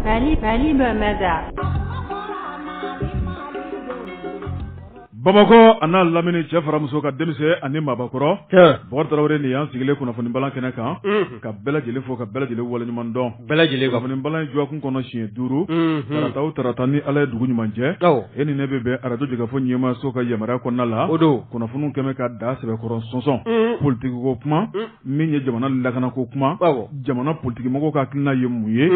Mali Mali bamada bamakɔ a n'a lamini cɛ fara muso kan denmisɛn ani maabakɔrɔ bɔkari tarawele nin y'an sigilen kunnafoni bala kɛnɛ kan ka bɛɛ lajɛlen fo ka bɛɛ lajɛlen waleɲuman dɔn bɛɛ lajɛlen kunnafoni bala jɔkun kɔnɔ siɲɛ duuru tarata o tarata ni ala ye dugu ɲuman jɛ e ni ne bɛ bɛn arajo jɛkafɔ ɲɛmaaso ka yamaruya kɔnɔna la o don kunnafoni kɛmɛ ka da sɛbɛkɔrɔ sɔnsɔn politigiko kuma min ye jamana lakana ko kuma jamana politigimɔgɔ ka hakilina ye mun ye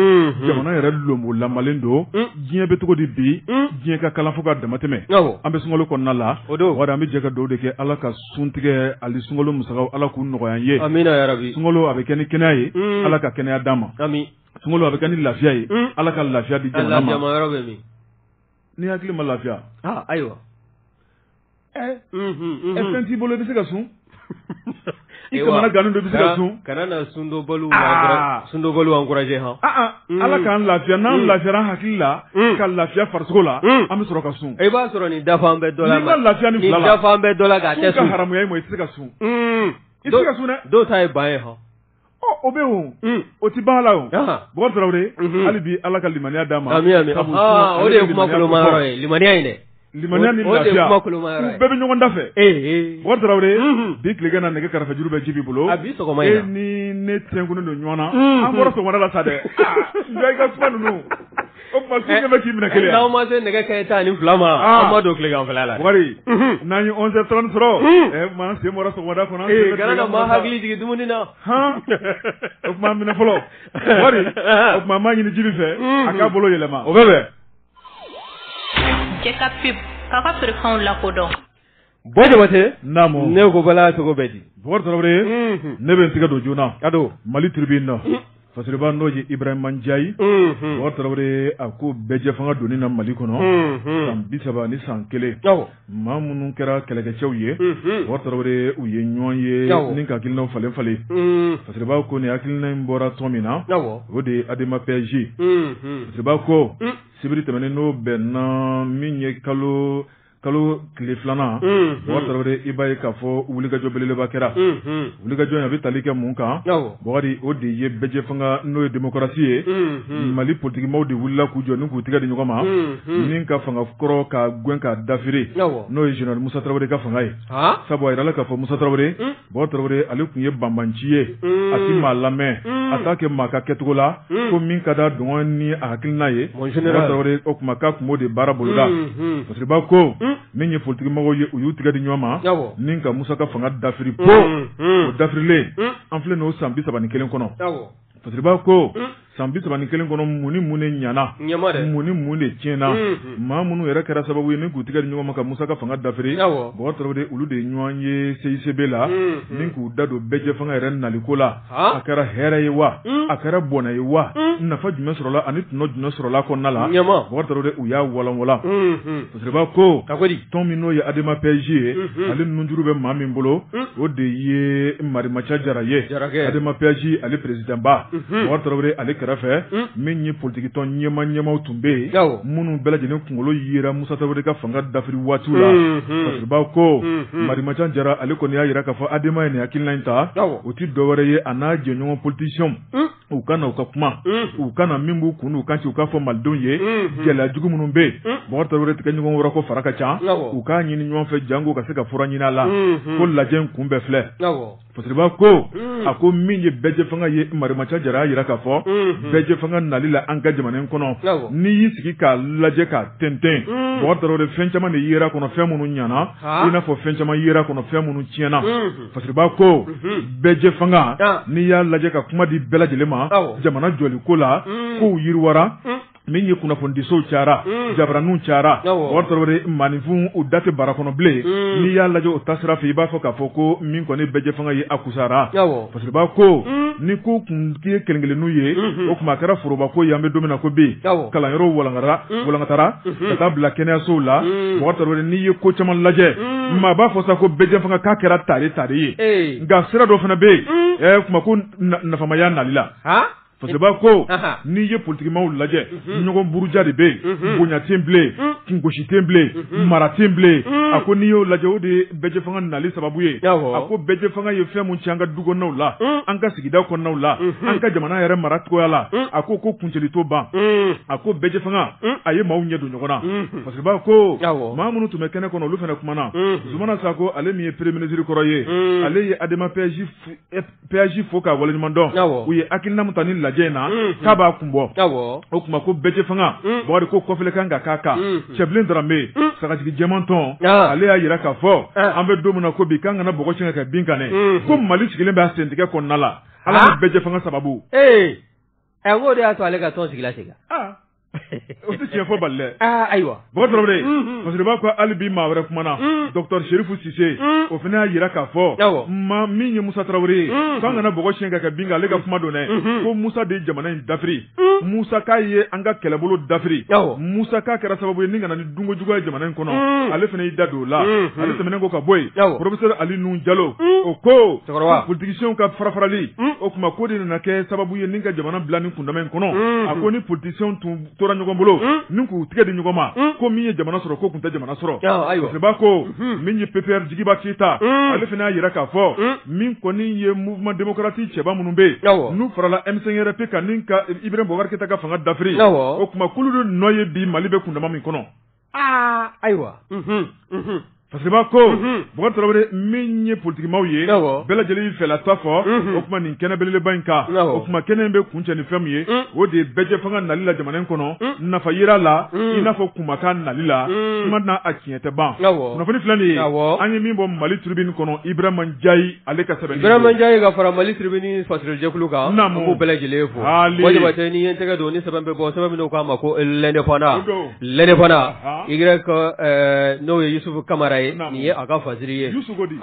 jamana yɛrɛ lonbo lamalen don diɲɛ bɛ cogo di bi diɲɛ ka kalan fo ka damatɛmɛ an bɛ sunkalo kɔnɔna la o an bɛ jɛ ka dugawu de kɛ ala ka suntigɛ ani sunkalo musaka ala k'u nɔgɔya ye sunkalo a bɛ kɛ ni kɛnɛya ye ala ka kɛnɛya d'an ma sunkalo a bɛ kɛ ni lafiya ye ala ka lafiya di jamana ma ni hakili ma lafiya ayiwa Ɛɛ e fɛn t'i bolo i bɛ se ka sun i kamanagannen don i bɛ se ka sun kana na sundonbaliw encourager h ala k'an lafiya n'an lafiyara hakili la ka lafiya farisogo la an bɛ sɔrɔ ka sun i b'a sɔrɔ nin dafa bɛ dɔ la lafiya ni dafa bɛ dɔ la ka haramuya i ma i tɛ se ka sun i tɛ se ka sun dɛ dɔw ta ye ban ye h Ɔ o bɛ wo o tɛ ban la o bɔkari tarawele hali bi ala ka limaniya d'an ma o de ye limaniya dɛ limaniya ni lafiya u bɛɛ bɛ ɲɔgɔn da fɛ ee bɔkari tarawele bi tilegan na nɛgɛ karafe juru bɛ jibi bolo a e ni ne tɛnkunnen don ɲɔgɔn na an bɔra sɔgɔmada la sa dɛ i ka kuma ninnu O tuma su ɲɛ bɛ k'i minɛ kelen wa? N'aw ma se nɛgɛ kanɲɛ tan ani fila ma, an ma don tileganfɛla la dɛ, Bɔkari, unhun, n'an ye 11 heures 30 sɔrɔ, un, o tuma an sen bɔra sɔgɔmada kɔnɔ, ee kana na maa hakili jigin dumuni na, han, o tuma minɛ fɔlɔ, Bɔkari, anhan, o tuma an b'a ɲini Jibi fɛ, unhun, a k'a bolo yɛlɛma, o bɛ bɛn. Bɔ jabatɛ naamu ne ko bala cogo bɛ di ne bɛ n tɛgɛ don joona ka don mali tribune na faba n'o ye Ibrahima Ndiaye tarawele a ko bɛɛjɛ fanga donni na mali kɔnɔ san bi saba ni san kelen maa minnu kɛra kɛlɛkɛcɛw ye tarawele u ye ɲɔgɔn ye ni ka hakilinaw falen falen faba ko nin hakilina in bɔra tɔn min na o de ye Adema PASJ faba ko sibiri tɛmɛnen n'o bɛnna min ye kalo kalo tile filanan tarawele i b'a ye k'a fɔ wulikajɔ belebeleba kɛra wulikajɔ in a bɛ tali kɛ mun kan bɔkari o de ye bɛɛjɛ fanga n'o ye demokarasi ye mali politigimaaw de wulila k'u jɔ ni k'u tigɛ di ɲɔgɔn ma ni ka fanga kɔrɔ ka gɛn ka dafiri n'o ye zenerali musa tarawele ka fanga ye sabu a jirala k'a fɔ musa tarawele Bɔkari tarawele ale tun ye banbanci ye a tɛ maa lamɛn a t'a kɛ maa ka kɛcogo la fo min ka d'a dungɔ ni a hakilina ye o tuma k'a tun b'o de baara boloda faba ko min ye politigimɔgɔw ye u y'u tigɛ di ɲɔgɔn ma ni ka musa ka fanga dafiri bon o dafirilen an filɛ n'o san bi3 ni kelen kɔnɔ Fasiriba ko san bisaba ni kelen kɔnɔ mun ni mun de ɲana mun ni mun de tiɲɛna maa minnu yɛrɛ kɛra sababu ye ni k'u tigɛ di ɲɔgɔn ma ka musa ka fanga dafiri Bɔkari Tarawele olu de ɲɔgɔn ye CICB la ni k'u da don bɛɛjɛ fanga yɛrɛ naliko la a kɛra hɛrɛ ye wa a kɛra bɔnɛ ye wa nafa jumɛn sɔrɔla ani tɔnɔ jumɛn sɔrɔla kɔnɔna la Bɔkari Tarawele u y'a walanwa Ba ko tɔn min n'o ye Adema PASJ ye ale nunjuru bɛ maa min bolo o de ye marimaca jara ye Adema PASJ ale président ba Bɔkari Tarawele ale kɛrɛfɛ min ye politikitɔn ɲɛma ɲɛmaw tun bɛ yen minnu bɛɛ lajɛlen kunkolo yera Musa Tarawele ka fanga dafiri waatiw la Fasiriba ko marimaca jara ale kɔni y'a jira k'a fɔ Adema ye nin hakilina in ta o tɛ dɔwɛrɛ ye a n'a jɛɲɔgɔn politiciens u ka na u ka kuma u ka na min b'u kun n'u kan ci u k'a fɔ malidenw ye gɛlɛya jugu minnu bɛ yen Bɔkari Tarawele tigɛ ɲɔgɔn wɛrɛ ko fara ka ca u k'a ɲini ɲɔgɔn fɛ janko ka se ka fura ɲini a la ko lajɛ in kun bɛɛ filɛ Fasiriba ko a ko min ye bɛɛjɛ fanga ye marimaca jara y'a jira k'a fɔ bɛɛjɛ fanga nali la an ka jamana in kɔnɔ n'i y'i sigi k'a lajɛ k'a tɛntɛn Bɔkari Tarawele fɛn caman de yera kɔnɔ fɛn minnu ɲana i n'a fɔ fɛn caman yera kɔnɔ fɛn minnu tiɲɛna Fasiriba ko bɛɛjɛ fanga n'i y'a lajɛ ka kuma di bɛɛ lajɛlen ma jamana jɔliko la kow yiriwara min ye kunnafonidisow cayara jabaraninw cayara maaninfin u da tɛ bara kɔnɔ bilen n'i y'a lajɛ o ta sira fɛ i b'a fɔ k'a fɔ ko min kɔni bɛɛjɛ fanga ye a kusara Fasiriba ko ni ko kun ye kelen-kelenninw ye o tuma a kɛra forobako ye an bɛ don min na ko bi kalanyɔrɔw walankatara ka taa bila kɛnɛyasow la Bɔkari Tarawele n'i ye ko caman lajɛ maa b'a fɔ sa ko bɛɛjɛ fanga k'a kɛra tare tare ye nka sira dɔ fana bɛ yen kuma ko nafamaya nali la Fasiriba ko n'i ye politikimaw lajɛ ɲɔgɔn buruja de bɛ yen bonya tɛ yen bilen kungosi tɛ yen bilen mara tɛ yen bilen a ko n'i y'o lajɛ o de ye bɛɛjɛ fanga nali sababu ye a ko bɛɛjɛ fanga ye fɛn min ci an ka duw la an ka sigida kɔnɔnaw la an ka jamana yɛrɛ mara cogoya la a ko ko kuncɛli to ban a ko bɛɛjɛ fanga a ye maaw ɲɛ don ɲɔgɔn na Fasiriba ko maa minnu tun bɛ kɛnɛ kɔnɔ olu fana kumana Zumana Sako ale min ye premier ministre kɔrɔ ye ale ye Adema PASJ fo k'a waleɲuman dɔn u ye hakilina min ta nin lajɛ in na k'a b'a kun bɔ o kuma ko bɛɛjɛ fanga Bɔkari ko kɔfilɛ kan ka k'a kan Cɛbilen Darame sagajigi jɛman tɔn ale y'a jira k'a fɔ an bɛ don min na ko bi k'an kana bɔgɔ siyɛn ka kɛ bin kan dɛ ko mali sigilen b'a sentigɛ kɔnɔna la ala bɛɛjɛ fanga sababu ee ɛ o de y'a to ale ka tɔn sigila O tɛ tiɲɛ fɔ bali dɛ. Aa ayiwa. Bɔkari Tarawele. Unhun. Fasiriba ko hali bi maa wɛrɛ kumana. Un. Docteur Serifu Sise. Un. O fana y'a jira k'a fɔ. Awɔ. Maa min ye Musa Tarawele ye. Un. K'an kana bɔgɔ siyɛn ka kɛ bin kan ale ka kuma don dɛ. Unhun. Ko Musa de ye jamana in dafiri. Un. Musa k'a ye an ka kɛlɛbolo dafiri. Awɔ. Musa k'a kɛra sababu ye ni ka na ni dunko juguya ye jamana in kɔnɔ ale fana y'i da don o la ale tɛmɛnen kɔ ka bɔ yen professeur Ali Nuhun Jalo o ko politisiyɛnw ka farafarali o kuma k'o de nana kɛ sababu ye ni ka jamana bila ni kundama in kɔnɔ a ko ni politisiyɛnw tun tora ɲɔgɔn bolo ni k'u tɛgɛ di ɲɔgɔn ma ko min ye jamana sɔrɔ k'o tun tɛ jamana sɔrɔ b'a ko min ye PPR jigiba keyita ale fana y'a jira k'a fɔ min kɔni ye mouvement démocratique cɛba minnu bɛ yen n'u farala M5-RFP kan ni ka Ibrahim Bubakar Keyita ka fanga dafiri o kuma k'olu de nɔ ye bi mali bɛ kundama min kɔnɔ aa ayiwa fasiribaa ko Bubakar tarawele min ye politigimaaw ye bɛɛ lajɛlen y'i fɛla ta fɔ o kuma nin kɛnɛ belebeleba in kan o kuma kɛnɛ in bɛ kuncɛ ni fɛn min ye o de ye bɛɛjɛ fanga nali la jamana in kɔnɔ nafa yira la i n'a fɔ kumakan nali la kuma na a tiɲɛ E tɛ ban kunnafoni filɛ nin ye an ye min bɔ Mali Tribune kɔnɔ Ibrahima Njayi ale ka sɛbɛnni Ibrahima Njayi ka fara Mali Tribune fasirijɛkulu kan an b'u bɛɛ lajɛlen fo n'i ye tɛgɛ don ni sɛbɛn bɛ bɔ sɛbɛn min k'a ma ko l'Indépendant n'o ye Yusufu kamara ye nin ye a ka fasiri ye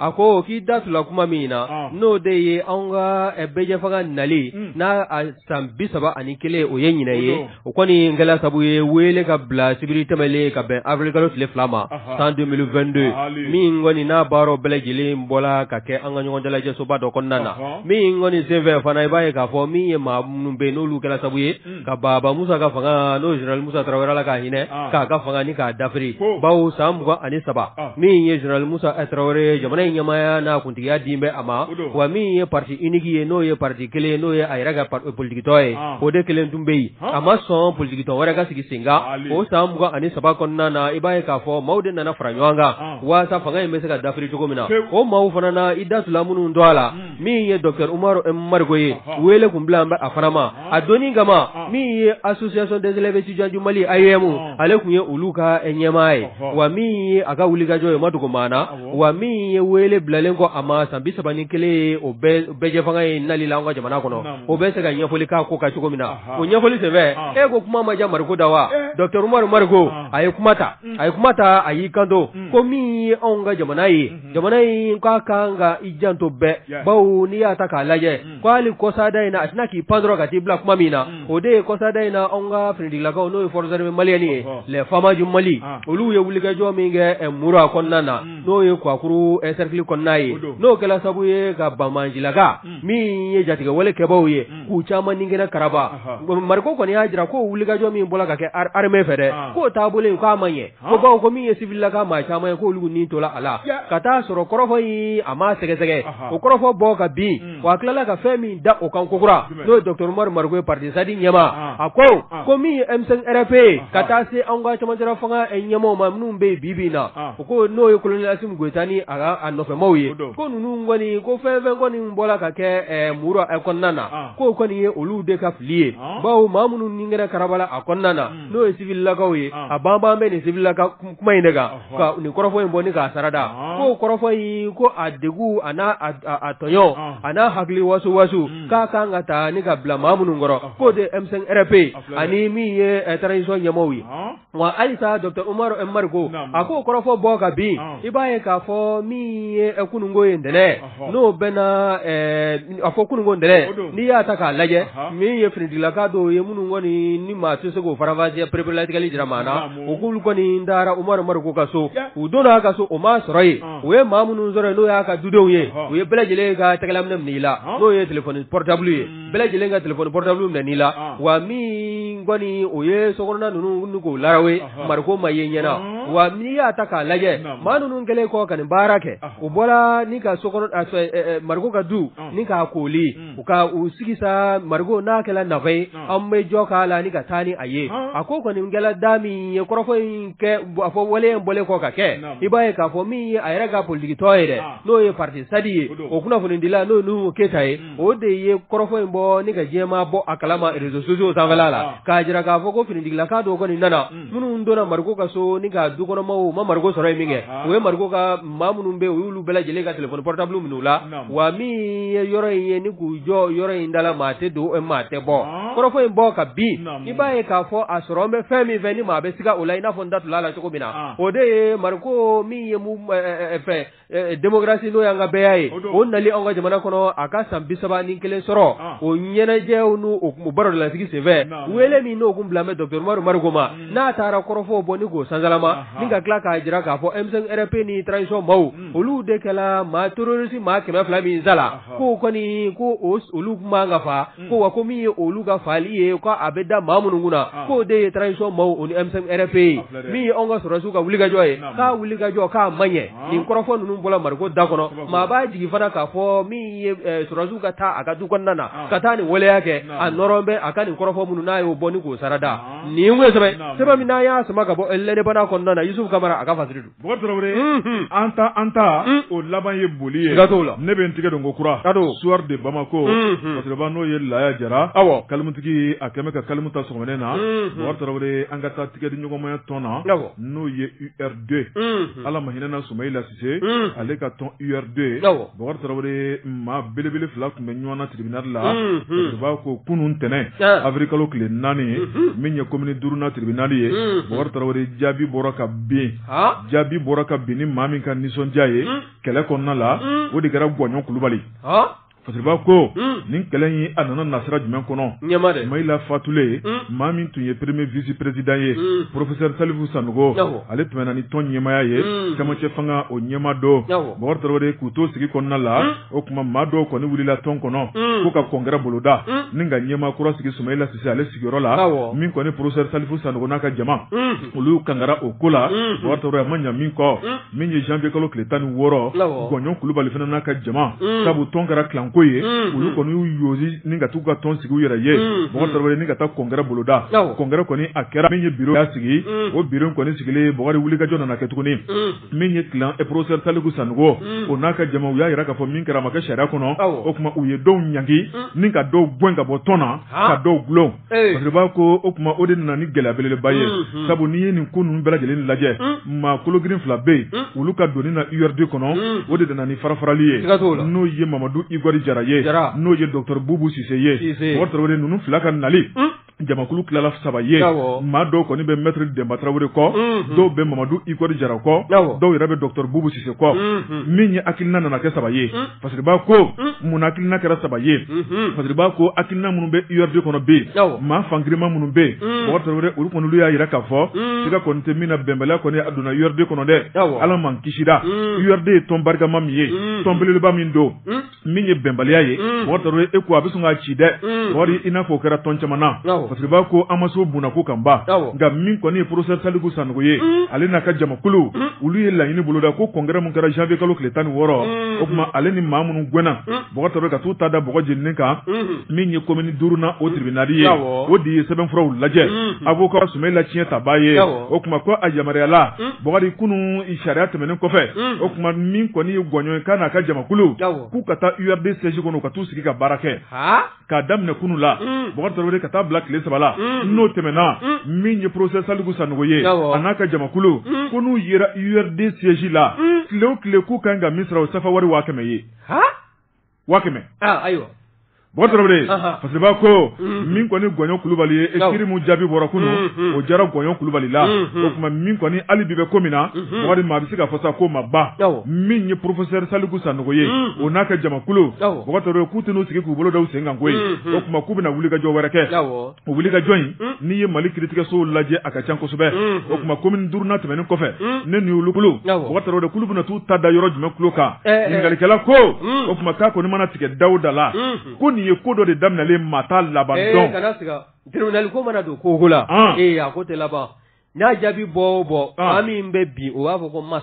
a ko k'i da tula kuma min na n'o de ye an ka bɛɛjɛfanga nali n'a san bi saba ani kelen o ye ɲinan ye o kɔni in kɛla sabu ye wele ka bila sibiri tɛmɛnen ka bɛn awirilikalo tile fila ma san 2022 min kɔni n'a baaraw bɛɛ lajɛlen bɔla ka kɛ an ka ɲɔgɔn dalajɛsoba dɔ kɔnɔna na min kɔni senfɛ fana i b'a ye k'a fɔ min ye maa minnu bɛ yen n'olu kɛla sabu ye ka baba musa ka fanga n'o général Musa Tarawele la k'a hinɛ k'a ka fanga ni k'a dafiri bawo san mugan ani saba min ye général musa tarawele ye jamana in ɲɛmaaya n'a Tigiya dilen bɛ a ma wa min ye parti unique ye n'o ye pati kelen ye n'o ye a yɛrɛ ka politigitɔn ye o de kelen tun bɛ yen a ma sɔn politigitɔn wɛrɛ ka sigi sen kan o san mugan ani saba kɔnɔna na i b'a ye k'a fɔ maaw de nana fara ɲɔgɔn kan walasasa fanga in bɛ se ka dafiri cogo min na o maaw fana na i da tula minnu tɔgɔ la min ye dɔgɔtɔrɔ Umaru Mariko ye wele tun bilalen bɛ a fana ma a don kama min ye association des élèves étudiants du Mali AEEM ale tun ye olu ka ɲɛmaa ye wa min ye a ka wulikajɔ ye ma dogo maa na wa min ye wele bilalen kɔ a ma san bi saba ni kelen o bɛɛjɛ fanga ye nali la an ka jamana kɔnɔ o bɛ se ka ɲɛfɔli k'a ko ka cogo min na o ɲɛfɔli senfɛ e ko kuma ma ja Mariko da wa dɔgɔtɔrɔ Umaru Mariko a ye kuma ta a ye kuma ta a y'i kanto ko min ye anw ka jamana ye jamana in k'a kan ka i janto bɛɛ bawo n'i y'a ta k'a lajɛ ko hali kɔsada in na a tɛna k'i pan dɔrɔn ka t'i bila kuma min na o de ye kɔsada in na anw ka finitigilakaw n'o ye forces armées maliennes ye les faama du Mali olu ye wulikajɔ min kɛ Mura kɔnɔna na n'o ye Kwakuru cercle kɔnɔna ye n'o kɛla sababu ye ka banbaancilakaw min ye jatigɛwale kɛbaaw ye k'u caman nin kɛnɛ karaba Mariko kɔni y'a jira ko wulikajɔ min bɔla ka kɛ armée fɛ dɛ k'o taabolo in k'a ma ɲɛ Ko bawo ko min ye sibilaka maa caman ye k'olu ni tola a la ka t'a sɔrɔ kɔrɔfɔ in a ma sɛgɛsɛgɛ o kɔrɔfɔ bɔ ka bin wa a tilala ka fɛn min da o kan kokura n'o ye Dr Umaru Mariko ye parti SADI ɲɛmaa a ko ko min ye M5-RFP ye ka taa se an ka camancɛla fanga ɲɛmaaw maa minnu bɛ yen bi na u ko n'o ye kolonɛli Asimi Goyita ani a nɔfɛmaw ye ko ninnu kɔni ko fɛn fɛn kɔni bɔra ka kɛ Mura kɔnɔna na k'o kɔni ye olu de ka fili ye bawo maa minnu ni kɛnɛ karabala a kɔnɔna na n'o ye sibilakaw ye a banban bɛ nin sibilaka kuma in de kan ka nin kɔrɔfɔ in bɔ ni k'a sarada ko kɔrɔfɔ in ko a degu a n'a a tɔɲɔ a n'a hakili waso waso k'a ka kan ka taa ni ka bila maa minnu kɔrɔ k'o de M5-RFP ye ani min ye transition ɲɛmaaw ye wa halisa Dr Umaru Mariko a k'o kɔrɔfɔ bɔ ka bin i b'a ye k'a fɔ min ye kununko ye ntɛnɛn n'o bɛna a fɔ kunun ko ntɛnɛn n'i y'a ta k'a lajɛ min ye finitigilaka dɔw ye minnu kɔni ni maa tɛ se k'u faranfasiya pereperelatigɛli jira maa na u k'olu kɔni taara Umaru Mariko ka so u donn'a ka so u m'a sɔrɔ yen u ye maa minnu sɔrɔ yen n'o y'a ka dudenw ye u ye bɛɛ lajɛlen ka tɛgɛlaminɛn minɛ i la n'o ye tilefɔni pɔrɔtabulu ye bɛɛ lajɛlen ka tilefɔni pɔrɔtabulu minɛ n'i la wa min kɔni o ye sokɔnɔna ninnu k'o laara ye mariko ma ye ɲɛna wa n'i y'a ta k'a lajɛ maa ninnu kɛlen kɔ ka nin baara kɛ u bɔra ni ka so mariko ka du ni k'a kooli u ka u sigi sa Mariko n'a kɛra nafa ye an bɛ jɔ k'a la ni ka taa ni a ye a ko kɔni kɛra da min ye kɔrɔfɔ in kɛ a fɔ wale in bɔlen kɔ ka kɛ i b'a ye k'a fɔ min ye a yɛrɛ ka politiki tɔn ye dɛ n'o ye parti SADI ye o kunnafonidila n'o Nuhu Keyita ye o de ye kɔrɔfɔ in bɔ ni ka diɲɛmaa bɔ a kalama réseaux sociaux sanfɛ la k'a jira k'a fɔ ko finitigilaka dɔw kɔni nana minnu donna Mariko ka so ni ka dukɔnɔmaw ma Mariko sɔrɔ yen min kɛ u ye Mariko ka maa minnu bɛ u y'olu bɛɛ lajɛlen ka tilefɔni pɔrɔtabulu minɛ u la wa min ye yɔrɔ in ye ni k'u jɔ yɔrɔ in da la maa tɛ don maa tɛ bɔ kɔrɔfɔ in bɔ ka bin i b'a ye k'a fɔ a sɔrɔ an bɛ fɛn min fɛ ni maa bɛ siga o la i n'a fɔ n da tola a la cogo min na o de ye Mariko min ye fɛ demokarasi n'o y'an ka bɛɛya ye o nali an ka jamana kɔnɔ a ka san bi saba ni kelen sɔrɔ o ɲɛnajɛw n'o baroda lasigi senfɛ wele min n'o tun bila bɛ Dr Umaru Mariko ma n'a taara kɔrɔfɔw bɔ ni k'o sansalama ni ka tila k'a jira k'a fɔ M5-RFP ni transition maaw olu de kɛra maa terorisi maa kɛmɛ fila min sala k'o kɔni ko olu tun man kan ka faa ko wa ko min ye olu ka faali ye ko a bɛ da maa minnu kunna k'o de ye transition maaw ni M5-RFP ye min ye anw ka sɔrɔsiw ka wulikajɔ ye k'a wulikajɔ k'a man ɲɛ nin kɔrɔfɔ ninnu bɔra mariko da kɔnɔ maa b'a jigi fana k'a fɔ min ye sɔrɔsiw ka taa a ka du kɔnɔna na ka taa nin waleya kɛ a nɔrɔ bɛ a ka nin kɔrɔfɔ minnu n'a y'o bɔ ni k'o sarada nin ye sɛbɛn sɛbɛn min n'a y'a sama ka bɔ lɛnɛbana kɔnɔna na Yusufu Kamara a ka fasiri don Bɔkari tarawele an ta an ta o laban ye boli ye gato la ne bɛ n tigɛ don ko kura ka don soir de bamako koba n'o ye laya jara kalimutigi a kɛmɛ ka kalimu ta sɔgɔma in na bɔkari tarawele an ka taa tigɛ di ɲɔgɔnmaya tɔn na n'o ye URD ala ma hinɛna sumayila sise ale ka tɔn URD bɔkari tarawele maa belebele fila tun bɛ ɲɔgɔn na tribunal la b'a ko kunun tɛnɛn avril kalo tile naani min ye commune duuru na tribunal ye bɔkari tarawele jaabi bɔra ka bin jaabi bɔra ka bin ni maa min ka nisɔndiya ye kɛlɛ kɔnɔna la o de kɛra gɔɲɔn kulubali fasiriba ko ni kɛlɛ in a nana na sira jumɛn kɔnɔ sumayila fatulen maa min tun ye premier vice président ye professeur salifu sanogo ale tun bɛ ni tɔn ɲɛmaya ye camancɛ fanga o ɲɛma dɔ bɔkari tarawele k'u to sigi kɔnɔna la o tuma maa dɔw kɔni wulila tɔn kɔnɔ ko ka congrès boloda ni ka ɲɛma kura sigi sumayila sise ale sigiyɔrɔ la min kɔni professeur salifu sanogo n'a ka jama olu kangara o ko la bɔkari tarawele a ma ɲa min kɔ min ye janvier kalo tile tan ni wɔɔrɔ gɔɲɔn kulubali fana n'a ka jama sabu tɔn kɛra clan ko ye olu kɔni y'u yosi ni ka taa u ka tɔn sigi u yɛrɛ ye bɔkari tarawele ni ka taa congrès boloda congrès kɔni a kɛra min ye bureau y'a sigi o bureau kɔni sigilen bɔkari wulikajɔ nana kɛ tuguni min ye clan professeur saliku sanogo o n'a ka jama u y'a jira k'a fɔ min kɛra a ma kɛ sariya kɔnɔ o tuma u ye dɔw ɲangi ni ka dɔw gɛn ka bɔ tɔn na ka dɔw dulon Fasiriba ko o tuma o de nana ni gɛlɛya belebeleba ye sabu n'i ye nin ko ninnu bɛɛ lajɛlen lajɛ maa kologirin fila bɛ yen olu ka donni na URD kɔnɔ o de nana ni farafarali ye n'o ye mamadu igɔri jara ye n'o ye docteur bubu sise ye bɔkari tarawele ninnu fila ka nali jamakulu tilala saba ye maa dɔw kɔni bɛ maître dɛnba tarawele kɔ dɔw bɛ mamadu igɔri jara kɔ dɔw yɛrɛ bɛ docteur bubu sise kɔ min ye hakilina nana kɛ saba ye Fasiriba ko mun na hakilina kɛra saba ye fasiriba ko hakilina minnu bɛ URD kɔnɔ bɛ yen maa fanrima minnu bɛ yen bɔkari olu kɔni olu y'a jira k'a fɔ siga kɔni tɛ min na bɛnbaliya kɔni a donna URD kɔnɔ dɛ ala ma an kisira URD ye tɔn barikama min ye tɔn belebeleba min don min ye bɛnbaliya ye bɔkari e ko a bɛ sɔn k'a ci dɛ bɔkari i n'a fɔ o kɛra tɔn caman na fasiriba ko an ma se o bɔnna ko kan ban nka min kɔni ye professeur saliku sanogo ye ale n'a ka jamakulu olu ye laɲini boloda ko congrès min kɛra janvier kalo tile tan ni wɔɔrɔ o tuma ale ni maa minnu gɛnna bɔkari tarawele ka taa u ta da bɔgɔ jeninen kan min ye commune duuru na o tribunal ye o de ye sɛbɛnfuraw lajɛ a b'o ka sɛmɛ la tiɲɛ tabaa ye o tuma ko a yamaruyala bɔkari kunun sariya tɛmɛnen kɔfɛ o tuma min kɔni ye gɔɲɔn kan n'a ka jamakulu k'u ka taa URD siège kɔnɔ ka taa u sigi ka baara kɛ k'a daminɛ kunu la Bubakari Tarawele ka taa bila tile saba la n'o tɛmɛna min ye professeur Saliku Sanogo ye a n'a ka jamakulu ko n'u yera URD siège la tile o tile k'u ka kan ka min sara o ye sefawari waa kɛmɛ ye waa kɛmɛ Bubakari Tarawele parce que ko min kɔni ye Gɔɲɔ Kulubali ye kiri min jaabi bɔra kunu o diyara Gɔɲɔ Kulubali la o tuma min kɔni hali bi bɛ ko min na Bubakari maa bɛ se k'a fɔ sa k'o ma ban min ye professeur Saliku Sanogo ye o n'a ka jamakulu k'u tɛna sigi k'u bolo da u sen kan koyi o tuma k'u bɛna wuli ka jɔ wɛrɛ kɛ o wuli ka jɔ in n'i ye mali kiiritigɛsow lajɛ a ka ca kosɛbɛ o tuma komini duurunan tɛmɛnen kɔfɛ ne nin olu kulu bɛna taa u ta da yɔrɔ jumɛn k'olu kan ɲininkali kɛla ko o tuma k'a kɔni mana tigɛ da o da la ko nin ye ko dɔ de daminɛlen ye maa t'a laban dɔn kana siga tribunal ko mana don ko la a ko tɛ laban n'a jaabi bɔ bɔ min bɛ bi o b'a fɔ k'o ma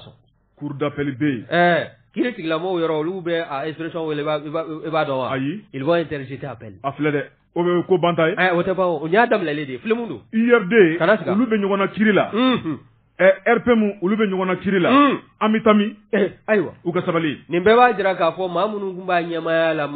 cour d'appel bɛ yen ɛɛ kiritigɛla mɔgɔ yɔrɔ olu bɛ expression wele i b'a dɔn wa ils vont interjeter appel a filɛ dɛ o bɛ ko banta ye o tɛ ban o y'a daminɛlen de filɛ don URD olu bɛ ɲɔgɔn na kiri la ɛ RPM olu bɛ ɲɔgɔn na kiri la an bɛ taa min ayiwa u ka sabali nin bɛɛ b'a jira k'a fɔ maa minnu tun b'a ɲɛmaaya la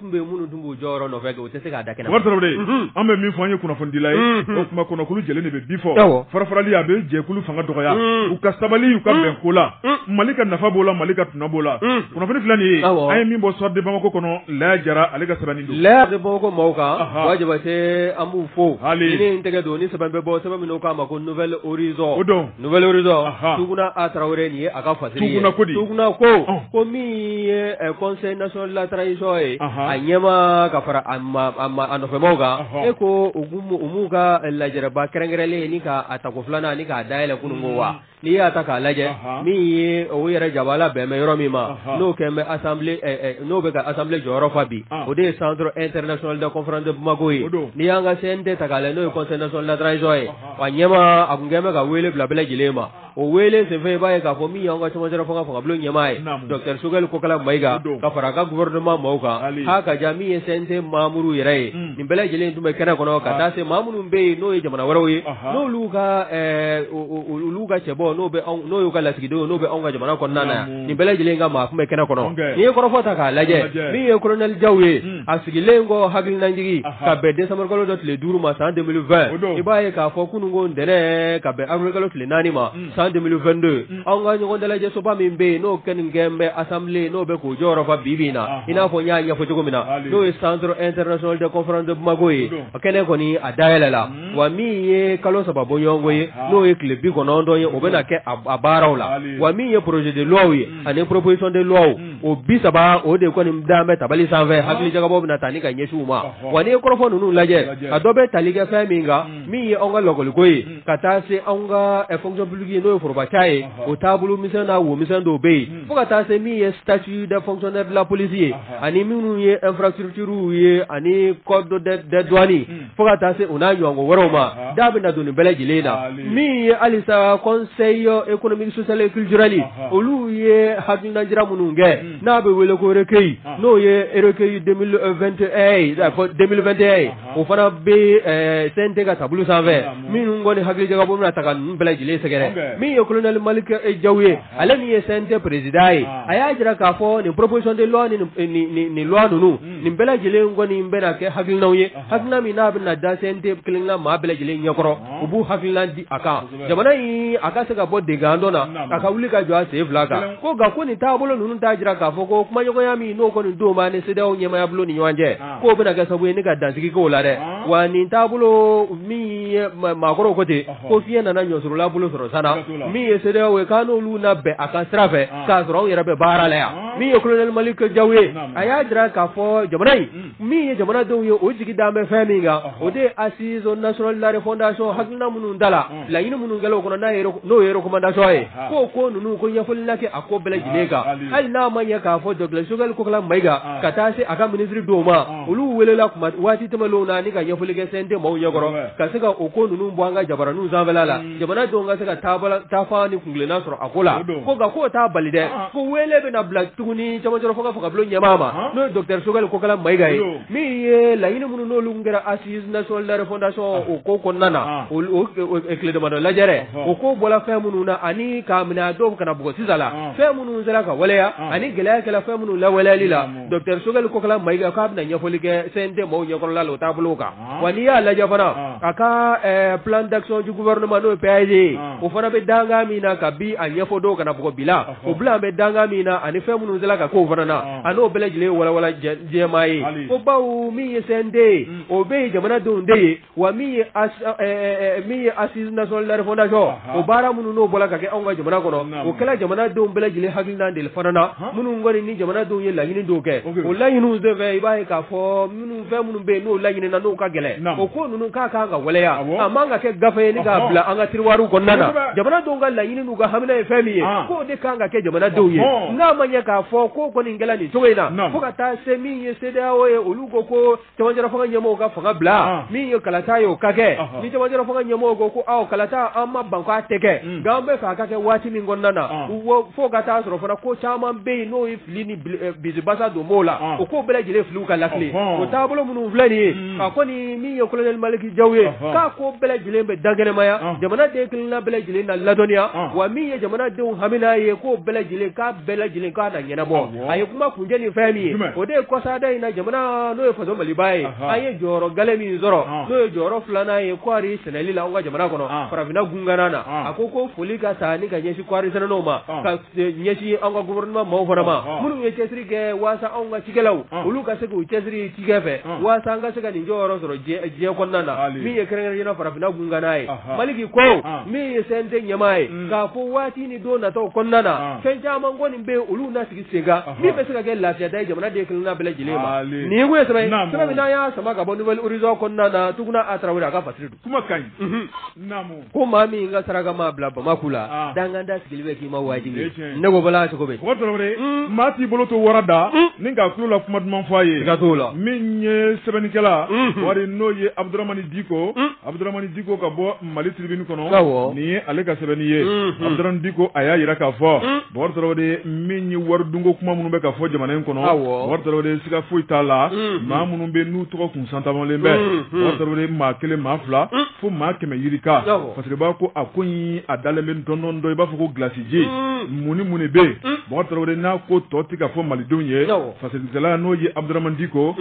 bɛ minnu tun b'u jɔyɔrɔ nɔfɛ u tɛ se k'a da kɛnɛ ma, Tarawele, unhun, an bɛ min fɔ an ye kunnafonidila ye, unhun, o tuma kɔnɔkulu jɛlen de bɛ bi fɔ, awɔ, farafarali a bɛ jɛkulu fanga dɔgɔya, un, u ka sabali u ka bɛn ko la, un, Mali ka nafa b'o la Mali ka tɔnɔ b'o la, un, kunnafoni filɛ nin ye, awɔ, an ye min bɔ Soir de Bamako kɔnɔ Laya Jara ale ka sɛbɛnni don, Laya bɛ Bamako maaw kan, anhan, Ba Jabate an b'u fo, hali, ni ne ye n tɛgɛ don ni sɛbɛn bɛ bɔ sɛbɛn min n'o k'a ma ko Nouvel Horizon o don Nouvel Horizon Ahan Tuguna A Tarawele nin ye a ka fasiri ye. Tuguna ko di? Tukunna ko, Ɔn! ko min ye ɛ conseil national de la transition ye, Ahan. a ɲɛmaa ka fara a ma a ma a nɔfɛmaaw kan, Ɔhɔ. e ko u k'u m'u u m'u ka lajɛrɛba kɛrɛnkɛrɛnlen nin k'a tako filanan ani k'a dayɛlɛ kunun ko wa? N'i y'a ta k'a lajɛ, Ahan. min ye o yɛrɛ jabala bɛn bɛ yɔrɔ min ma, Ahan. n'o kɛlen bɛ assemblée ɛ ɛ n'o bɛ ka assemblée jɔyɔrɔ fa bi, An. o de ye centre international de conférence de Bamako ye. O don. N'i y'an ka CNT ta k'a lajɛ n'o ye conseil national de la transition ye. a ɲɛmaa a tun kɛlen bɛ ka wele bila bɛɛ lajɛlen ma o wele senfɛ i b'a ye k'a fɔ min y'an ka cɛmancɛla fanga fangabulon ɲɛmaa ye docteur Sogɛli Kokala Mayiga ka fara a ka gouvernement maaw kan k'a ka diya min ye CNT membre yɛrɛ ye nin bɛɛ lajɛlen tun bɛ kɛnɛ kɔnɔ ka taa se maa minnu bɛ yen n'o ye jamana wɛrɛw ye n'olu ka olu ka cɛbɔ n'o bɛ anw n'o y'u ka lasigidenw n'o bɛ anw ka jamana kɔnɔna na yan nin bɛɛ lajɛlen ka maa tun bɛ kɛnɛ kɔnɔ n'i ye kɔrɔfɔ ta k'a lajɛ min ye colonel Jaw ye a sigilen kɔ hakilinajigin ka bɛn décembre kalo dɔ tile duuru ma san 2020 i b'a ye k'a fɔ kunun ko ntɛnɛn ka bɛn avril kalo tile naani ma san 2022 don anw ka ɲɔgɔn dalajɛsoba min bɛ yen n'o kɛlen kɛlen bɛ assemblée n'o bɛ k'o jɔyɔrɔ fa bibi in na i n'a fɔ n y'a ɲɛfɔ cogo min na n'o ye centre international de conférence de Bamako ye a kɛnɛ kɔni a dayɛlɛla wa min ye kalo saba bɔɲɔgɔnko ye n'o ye tile bi kɔnɔntɔn ye o bɛna kɛ a baaraw la wa min ye projet de loiw ye ani proposition de loi o bi saba o de kɔni da bɛ tabali sanfɛ hakili jagabɔ bɛna taa ni ka ɲɛsin u ma wa n'i ye kɔrɔfɔ ninnu lajɛ a dɔ bɛ tali kɛ fɛn min kan min ye anw ka lakɔliko ye ka taa se anw ka fonction publique ye n'o ye forobaca ye o taabolo misɛn n'a wo misɛn dɔw bɛ yen fo ka taa se min ye statut des fonctionnaires de la police ye ani minnu ye infrastructures ye ani code des douanes fo ka taa se u n'a ɲɔgɔn wɛrɛw ma da bɛna don nin bɛɛ lajɛlen na min ye halisa conseil économique social et culturel olu ye hakilina jira minnu kɛ n'a bɛ wele ko recueil n'o ye recueil 2021 ye a fɔ 2021 ye o fana bɛ ɛɛ CNT ka tabali sanfɛ minnu kɔni hakili jagabɔ bɛna taa ka ninnu bɛɛ lajɛlen sɛgɛrɛ min ye colonel Malick Jaw ye ale min ye CNT président ye a y'a jira k'a fɔ nin proposition de loi nin loi ninnu nin bɛɛ lajɛlen kɔni bɛna kɛ hakilinaw ye hakilina min n'a bɛna da CNT kelenna maa bɛɛ lajɛlen ɲɛkɔrɔ u b'u hakilina di a kan jamana in a ka se ka bɔ dingɛ dɔ la a ka wuli ka jɔ a sen fila kan ko nka ko nin taabolo ninnu t'a jira k'a fɔ ko kumaɲɔgɔnya min n'o kɔni don b'an ni CEDEAO ɲɛmaaya bulon ni ɲɔgɔn cɛ k'o bɛna kɛ sababu ye ni ka dan sigi ko o la dɛ wa nin taabolo min ye maakɔrɔw ko ten ko fiɲɛ nana ɲɔsuurula bolo sɔrɔ san na min ye CEDEAO ye k'an n'olu na bɛn a kan sira fɛ k'a sɔrɔ anw yɛrɛ bɛ baara la yan min ye colonel Malick Jaw ye a y'a jira k'a fɔ jamana in min ye jamanadenw ye o jigi da bɛ fɛn min kan o de ye assise nationale de la refondation hakilina minnu dala laɲini minnu kɛra o kɔnɔ n'a ye n'o ye recommandation ye k'o ko ninnu ko ɲɛfɔli na kɛ a ko bɛɛ lajɛlen kan hali n'a ma ɲɛ k'a fɔ docteur Choguel Kokala Mayiga ka taa se a ka ministre dɔw ma olu welela tuma waati tɛmɛnenw na ni ka ɲɛfɔli kɛ CNT maaw ɲɛkɔrɔ ka se ka o ko ninnu bɔ an ka jabaraninw sanfɛla la jamana denw ka se ka taabala taafaa ni kuntilenna sɔrɔ a ko la ko nka k'o t'a bali dɛ ko weele bɛna bila tuguni cɛmancɛ rɔ fo ka fanga bulon ɲɛmaa ma n'o ye docteur Choguel Kokala Mayiga ye Min ye laɲini minnu n'olu kɛra assise nationale de la refondation o ko kɔnɔna na o tile damadɔ lajɛrɛ o ko bɔra fɛn minnu na ani k'a minɛ a don ka n'a bugɔ sisan la fɛn minnu sera ka waleya ani gɛlɛya kɛra fɛn minnu lawaleyali la docteur Choguel Kokala Mayiga k'a bɛna ɲɛfɔli kɛ CNT maaw ɲɛkɔrɔla la o taabolo kan wa n'i y'a lajɛ fana a ka plan d'action du gouvernement n'o ye PAG ye o fana bɛ dankan min na kabi a ɲɛfɔ don ka n'a bugɔ bi la O bi la a bɛ dankan min na ani fɛn minnu sera ka kɛ o fana na a n'o bɛɛ lajɛlen walawala jɛma ye ko bawo min ye CNT ye o bɛɛ ye jamanadenw de ye wa min ye assise nationale de la refondation o baara minnu n'o bɔra ka kɛ anw ka jamana kɔnɔ o kɛra jamanadenw bɛɛ lajɛlen hakilina de fana na minnu kɔni ni jamanadenw ye laɲini dɔw kɛ o laɲiniw senfɛ i b'a ye k'a fɔ minnu fɛn minnu bɛ yen n'o laɲini na n'o ka gɛlɛn o ko ninnu ka kan ka waleya a man ka kɛ gafe ye k'a bila an ka tiroir kɔnɔna na jamanadenw ka laɲini n'u ka hamina ye fɛn min ye k'o de kan ka kɛ jamanadenw ye n'a ma ɲɛ k'a fɔ ko kɔni kɛla nin cogo in na fo ka taa se min ye CEDEAO ye olu ko ko cɛmancɛla fanga ɲɛmɔgɔ ka fanga bila min ye kalata ye o ka kɛ ni cɛmancɛla fanga ɲɛmɔgɔ ko ko aw kalata an ma ban k'a tɛ kɛ nka an b'a fɛ ka kɛ waati min kɔnɔna na fo ka taa sɔrɔ fana ko caman bɛ yen n'o bisibasa don b'o la o ko bɛɛ lajɛlen filiw ka la o taabolo minnu filɛ nin ye a kɔni min ye kolonɛli maliki jaw ye k'a ko bɛɛ lajɛlen bɛ dankɛnɛmaya jamanaden kelenna bɛɛ lajɛlen na ladɔnniya wa min ye jamanadenw hamina ye k'o bɛɛ lajɛlen k'a bɛɛ lajɛlen k'a na ɲɛnabɔ a ye kuma kuncɛ ni fɛn min ye o de ye kɔsada in na jamana n'o ye faso maliba ye an ye jɔyɔrɔ gale min sɔrɔ n'o ye jɔyɔrɔ filanan ye kɔɔri sɛnɛli la an ka jamana kɔnɔ farafinna gun kan na a ko ko foli ka taa ni ka ɲɛsin kɔɔri sɛnɛlaw ma ɲɛsin an ka gouvernement maaw fana ma, ɔhɔ, minnu ye cɛsiri kɛ waasa anw ka cikɛlaw, ɔn, olu ka se k'u cɛsiri cikɛ fɛ, ɔn, waasa an ka se ka nin jɔyɔrɔ sɔrɔ diɲɛ diɲɛ kɔnɔna na, hali, min ye kɛrɛnkɛrɛnnenya la farafinna gun kan na ye, ɔhɔ, Maliki ko, ɔn, min ye CNT ɲɛmaa ye, un, k'a fɔ waati ni don nataw kɔnɔna na, ɔn, fɛn caman kɔni bɛ yen olu na sigi sen kan, ɔhɔ, min bɛ se ka kɛ lafiya da ye jamanaden kelen-kelenna bɛɛ lajɛlen ma, hali, nin ye kun ye sɛbɛn ye, naamu, sɛbɛn min n'an y'a sama ka bɔ Nouvel Horizon kɔnɔna na Tuguna A Tarawele a ka fasiri don, kuma ka ɲi, unhun, naamu. ko maa min ka saraka m'a bila bama kɔ la ah. dankan da sigili bɛ k'i ma wajibi ne ko bala cogo bɛ hmm. maa t'i bolo to wara da hmm. ni ka tulo la kuma duman fɔ a ye ka t'o la min ye sɛbɛnnikɛla hmm. wari n'o ye abuduramani diko abuduramani diko ka bɔ mali tiribini kɔnɔ nin ye ale ka sɛbɛnni ye abuduramani diko a y'a yira k'a fɔ bɔkari tarawele min ye wari dunko kuma minnu bɛ ka fɔ jamana in kɔnɔ bɔkari tarawele siga foyi t'a la maa minnu bɛ n'u tɔgɔ kun Santamalen bɛ bɔkari tarawele maa kelen maa fila fo maa kɛmɛ yirika parce que b'a ko a ko a dalen bɛ dɔndɔ dɔn i b'a fɔ ko gilasiji mununi minnu bɛ yen bɔkari tarawele n'a ko tɔ tɛ ka fɔ malidenw ye fasirikɛla n'o ye abuduramani diko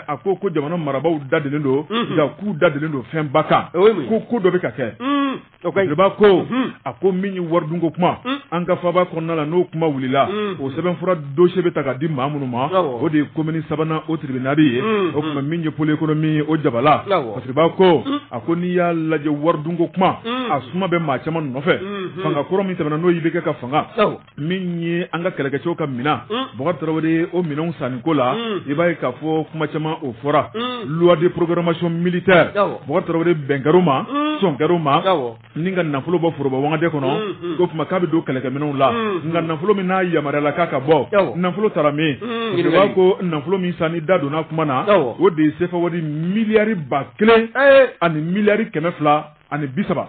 a ko ko jamana marabagaw dadelen don nka k'u dadelen don fɛn ba kan ko ko dɔ bɛ ka kɛ b'a ko a ko min ye waridun ko kuma an ka faba kɔnɔna la n'o kuma wulila o sɛbɛnfura dossier bɛ ta ka di maa minnu ma o de ye commune sabanan o tribunal ye o kuma min ye pôle économique ye o jabala o b'a ko a ko n'i y'a lajɛ waridun ko kuma a suma bɛ maa caman nɔfɛ fanga kɔrɔ min tɛmɛna n'o ye IBK ka fanga min ye an ka kɛlɛkɛcɛw ka minɛn mm. Bubakari Tarawele o minɛnw sanni ko la mm. i b'a ye k'a fɔ kuma caman o fɔra mm. loi de programmation militaire Bubakari Tarawele bɛn kɛr'o ma sɔn kɛr'o ma ni ka nafolo bɔ foroba wagande kɔnɔ ko kuma k'a bɛ don kɛlɛkɛminɛnw la nka nafolo min n'a yamaruyala k'a ka bɔ nafolo taara min o b'a ko nafolo min sanni da donna kuma na o de ye sefawari miliyari ba kelen eh. ani miliyari kɛmɛ fila ani bi saba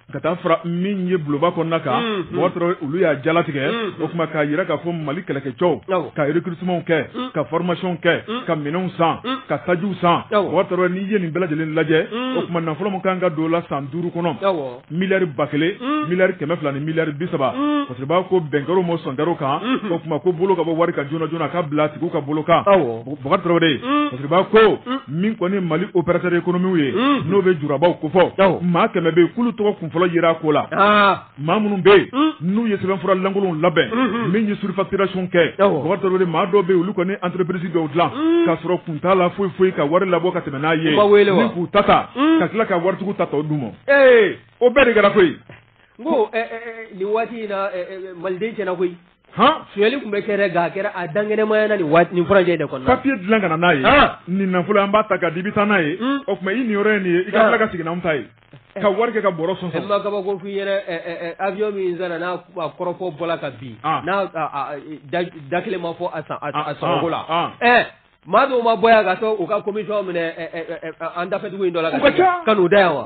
ka taa fara min ye bulonba kɔnɔna kan Bɔkari Tarawele olu y'a jalatigɛ o tuma k'a jira k'a fɔ mali kɛlɛkɛcɛw ka recrutementw kɛ ka formation kɛ ka minɛnw san ka tajiw san Bɔkari Tarawele n'i ye nin bɛɛ lajɛlen lajɛ o tuma nafolo min kan ka don la san duuru kɔnɔ miliyari ba kelen miliyari kɛmɛ fila ni miliyari bi saba Fasiriba ko bɛn kɛr'o ma sɔn kɛr'o kan o tuma ko bolo ka bɔ wari kan joona joona a ka bila tigiw ka bolo kan Bɔkari Tarawele Fasiriba ko min kɔni mali opérateur économiquew ye n'o bɛ jurabaw kofɔ maa kɛmɛ bɛ k'olu tɔgɔ kunfɔlɔ yera ko la maa minnu bɛ yen n'u ye sɛbɛnfura lankolonw labɛn min ye surfacturation kɛ dɔw maa dɔw bɛ olu kɔni entreprise dɔw dilan k'a sɔrɔ kun t'a la foyi foyi ka wari labɔ ka tɛmɛ n'a ye ni k'u ta ta ka tila ka waritigiw ta tɔ d'u ma ee o bɛɛ de kɛra koyi ko nin waati in na maliden tiɲɛna koyi sonyali tun bɛ kɛ nka a kɛra a dankɛnɛmaya na nin furancɛ de kɔnɔ papiye dilan ka na n'a ye nin nafolo an b'a ta k'a di i bɛ taa n'a ye o tuma i niyɔrɔ ye nin ye i ka tila ka segin n'anw ta ye ka wari kɛ ka bɔrɔ sɔn maa kabako i ɲɛ na avion min sanna n'a kɔrɔfɔ bɔla ka bin n'a da kelen ma fɔ a sɔngɔ la ɛ maa dɔw ma bɔ yan ka taa u ka commission minɛ an dafɛdugu in dɔ la ka n'u da yan wa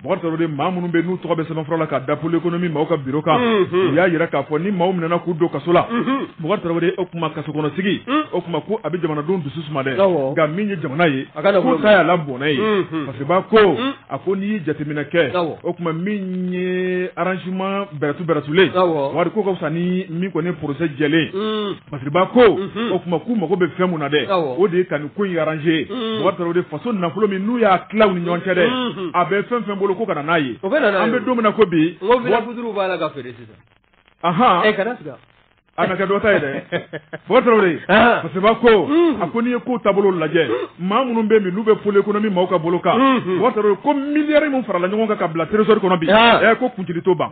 Bɔkari Tarawele maa minnu bɛ n'u tɔgɔ bɛ sɛbɛnfura la k'a da pôle économique maaw ka bureau kan u y'a jira k'a fɔ ni maaw minɛna k'u don kaso la Bɔkari Tarawele o kuma kaso kɔnɔsigi o tuma ko a bɛ jamanadenw dusu suma dɛ nka min ye jamana ye k'o ta y'a la bɔnɛ ye Fasiriba ko a ko n'i ye jateminɛ kɛ o tuma min ye arrangement bɛrɛtu bɛrɛtulen wari k'o ka fisa ni min kɔni procès jɛlen Fasiriba ko o tuma k'u mago bɛ fɛn mun na dɛ o de ye ka nin ko in arranger o y'a sɔrɔ o de faso nafolo min n'u y'a tila u ni ɲɔgɔn cɛ dɛ a bɛ fɛn o fɛn bolo ko ka na n'a ye an bɛ don min na ko bi n ko villa feutres b'a la ka feere sisan anhan e kana siga a na kɛ dɔ ta ye dɛ Bɔkari Tarawele Fasiriba ko a ko n'i ye kow taabolo lajɛ maa minnu bɛ yen bi n'u bɛ pôle économique maaw ka bolo kan Bɔkari Tarawele ko miliyari min farala ɲɔgɔn kan ka bila tresor kɔnɔ bi ɛ ko t'o ban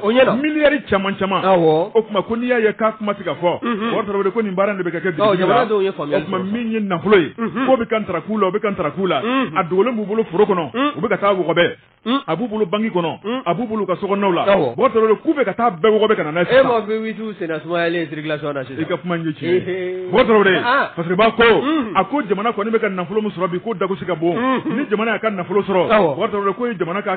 o ɲɛna miliyari caman caman o tuma ko n'i y'a ye k'a kuma tɛ ka fɔ o ko nin baara de bɛ ka kɛ min ye nafolo ye k'o bɛ ka tarak'u la o bɛ ka tarak'u la a dogolen b'u bolo foro kɔnɔ u bɛ ka taa o wɔgɔbɛ a b'u bolo banki kɔnɔ a b'u bolo ka sow la k'u bɛ ka taa bɛɛ wɔgɔbɛ ka na n'a ye sisan e ma V8 senna sumayalen circulation na i ka kuma in ye tiɲɛ ye Fasiriba ko a ko jamana kɔni bɛ ka nafolo min sɔrɔ bi ko dagosi ka bon ni jamana y'a ka nafolo sɔrɔ ko jamana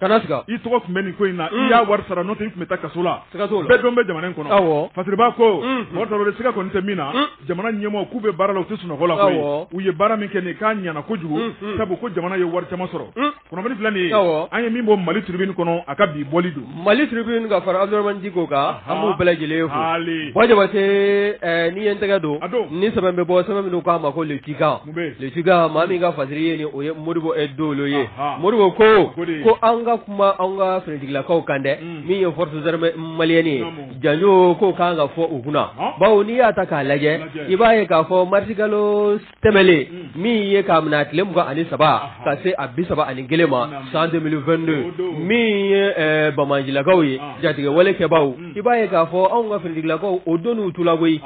kana siga i tɔgɔ tun bɛ nin ko in na i y'a wari sara n'o tɛ i tun bɛ taa kaso la siga t'o la bɛɛ dɔn bɛ jamana in kɔnɔ awɔ fasiriba ko Bɔkari Tarawele siga kɔni tɛ min na jamana ɲɛmɔgɔw k'u bɛ baara la u tɛ sunɔgɔ la koyi Awɔ. u ye baara min kɛ nin k'a ɲɛna kojugu sabu ko jamana ye wari caman sɔrɔ kunnafoni filɛ nin ye Awɔ. an ye min bɔ mali tribune kɔnɔ a ka bi bɔli don mali tribune ka fara abdourahmane diko kan an b'u bɛɛ lajɛlen fo Hali. bɔ jabate ɛɛ n'i ye n tɛgɛ don A don. nin sɛbɛn bɛ bɔ sɛbɛn min n'u k'a ma ko le tjikan Jeliba maa min ka fasiri ye nin o ye Modibo Dolo ye Modibo ko ko an ka kuma an ka finitigilakaw kan dɛ min ye force armée malienne ye janjo ko kan ka fɔ u kunna bawo n'i y'a ta k'a lajɛ i b'a ye k'a fɔ marisikalo tɛmɛlen min ye k'a minɛ tile mugan ani saba ka se a bi saba ani kelen ma san deux mille vingt-deux min ye bamanjilakaw ye jatigɛwalekɛbaaw i b'a ye k'a fɔ anw ka finitigilakaw o donn'u tu la koyi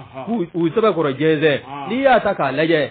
u sɛbɛkɔrɔ jɛnsɛn n'i y'a ta k'a lajɛ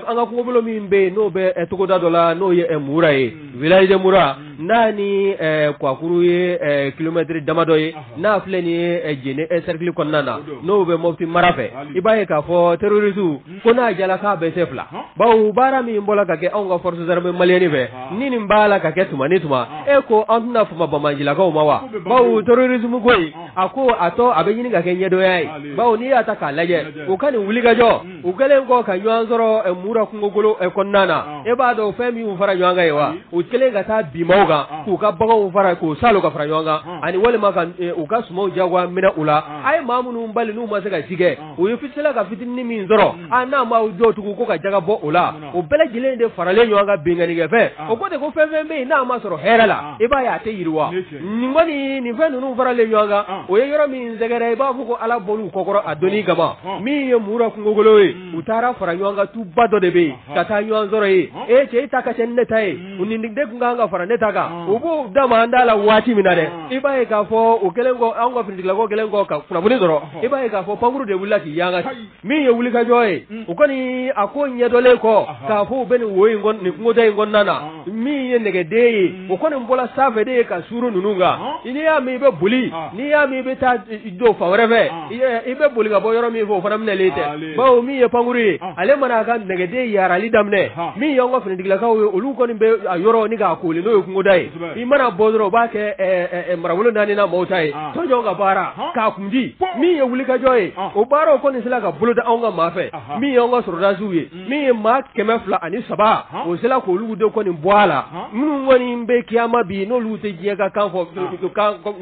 an ka kungobolo min bɛ yen n'o bɛ togoda dɔ la n'o ye Mura ye village de Mura n'a ni Kuwakuru ye kilomɛtiri damadɔ ye n'a filɛ nin ye Jene sɛrikili kɔnɔna na n'o bɛ Mopti mara fɛ i b'a ye k'a fɔ terroriste ko n'a jala k'a bɛ se fila bawo baara min bɔra ka kɛ anw ka force armée malienne fɛ ni nin b'a la ka kɛ tuma ni tuma e ko an tɛna fama bamanjilakaw ma wa bawo terrorisme ko a ko a tɔ a bɛ ɲini ka kɛ ɲɛdɔnya ye bawo n'i y'a ta k'a lajɛ u ka nin wulikajɔ u kɛlen kɔ ka ɲɔgɔn sɔrɔ Mura kungokolo kɔnɔna na e b'a dɔn fɛn min fara ɲɔgɔn kan ye wa u kɛlen ka taa bin maaw kan k'u ka baganw fara k'u saalo ka fara ɲɔgɔn kan ani walima k'u ka sumanw jagoya minɛ u la a ye maa minnu bali n'u ma se ka cikɛ u ye fisila ka fitinin min sɔrɔ a n'a ma jɔ tugun ko ka jaga bɔ o la o bɛɛ lajɛlen de faralen ɲɔgɔn kan binkannikɛfɛn o ko de ko fɛn fɛn bɛ yen n'a ma sɔrɔ hɛrɛ la i b'a ye a tɛ yiriwa nin kɔni nin fɛn ninnu faralen ɲɔgɔn kan o ye yɔrɔ min sɛgɛrɛ i b'a fɔ ko ala bɔr'u kɔkɔrɔ a donni kama min ye mura kungokolo ye u taara fara ɲɔgɔn kan tuba dɔ de bɛ yen ka taa ɲɔgɔn sɔrɔ yen ee cɛ e ta ka ca ni ne ta ye nin de tun kan ka fara ne ta kan u b'o da ma an da la waati min na dɛ i b'a ye k'a fɔ o kɛlen kɔ an ka finitigilakaw kɛlen kɔ ka kunnafoni sɔrɔ i b'a ye k'a fɔ pankurun de wulila k'i yanga min ye wulikajɔ ye u kɔni a ko ɲɛdɔnlen kɔ k'a fɔ u bɛ nin wo in nin kungoda in kɔnɔna na min ye nɛgɛden ye o kɔni bɔra sanfɛ de ye ka suuru ninnu kan n'i y'a min i bɛ boli n'i y'a min i bɛ taa don fan wɛrɛ fɛ i bɛ boli ka bɔ yɔrɔ min fɛ o fana minɛlen tɛ bawo min ye pankurun ye ale mana a ka nɛgɛden yaarali daminɛ min y'an ka finitigilakaw ye olu kɔni bɛ a yɔrɔ ni k'a kooli n'o ye kungoda ye i mana bɔ dɔrɔn u b'a kɛ marabolo naani na mɔgɔw ta ye tɔnjɔn ka baara k'a kundi min ye wulikajɔ ye o baaraw kɔni sera ka boloda anw ka maa fɛ min y'an ka sɔrɔdasiw ye min ye maa kɛmɛ fila ani saba o sera k'olu de kɔni bɔ a la minnu kɔni bɛ kiyama bi n'olu tɛ diɲɛ ka kan fɔ